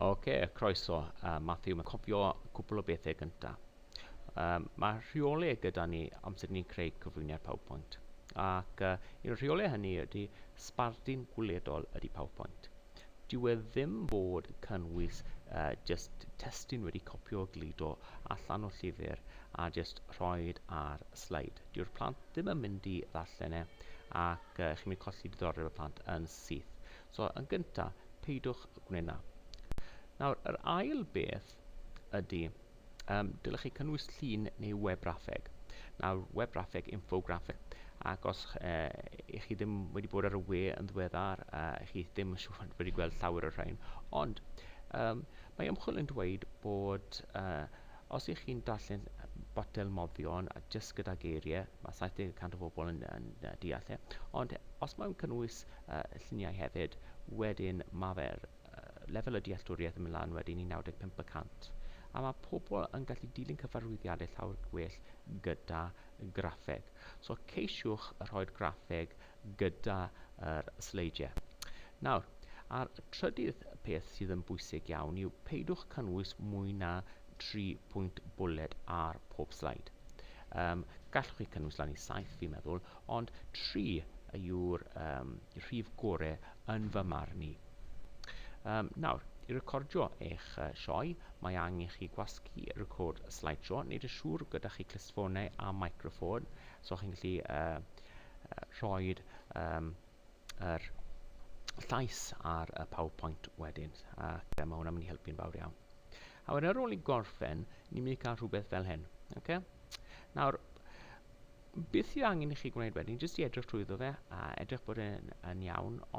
Oce, okay, croeso. Uh, Matthew, mae'n cofio cwpl o bethau gyntaf. Um, mae rheolau gyda ni amser ni'n creu cyflwyniad PowerPoint. Ac uh, un o'r rheolau hynny ydy sbardun gwledol ydy PowerPoint. Dyw e ddim fod cynnwys jyst testun wedi copio a gludo allan o llyfr a jyst rhoed ar sleid. Dyw'r plant ddim yn mynd i ddarllen e ac uh, chi'n mynd colli diddordeb y plant yn syth. So yn gyntaf, peidwch gwneud na. Nawr, yr ail beth ydy, um, dylech chi cynnwys llun neu web raffeg. Nawr, web raffeg, infograffeg, ac os uh, ych chi ddim wedi bod ar y we yn ddiweddar, uh, chi ddim yn siŵr wedi gweld llawer o'r rhain, ond um, mae ymchwil yn dweud bod uh, os ych chi'n darllen botel moddion a jyst gyda geiriau, mae 70% o bobl yn, yn, yn deall e, ond os mae'n cynnwys uh, lluniau hefyd, wedyn mae fe'r lefel y dealltwriaeth yn mynd lan wedyn i 95 y cant, a mae pobl yn gallu dilyn cyfarwyddiadau llawer gwell gyda graffeg. So ceisiwch rhoi'r graffeg gyda yr sleidiau. Nawr, a'r trydydd peth sydd yn bwysig iawn yw peidwch cynnwys mwy na 3 pwynt bwled ar pob sleid. Um, gallwch chi cynnwys lan i 7 fi'n meddwl, ond 3 yw'r um, rhif gore yn fy marn i. Um, nawr, i recordio eich uh, sioe, mae angen chi gwasgu record slideshow. Nid y siŵr gyda chi clustffonau a microffon, so chi'n gallu uh, uh, rhoi um, yr llais ar y PowerPoint wedyn, ac uh, mae hwnna'n mynd i helpu'n fawr iawn. A wedyn ar ôl i gorffen, ni'n mynd i cael rhywbeth fel hyn. Okay? Nawr, beth sydd angen i chi gwneud wedyn, jyst i edrych trwyddo fe a edrych bod e'n yn iawn,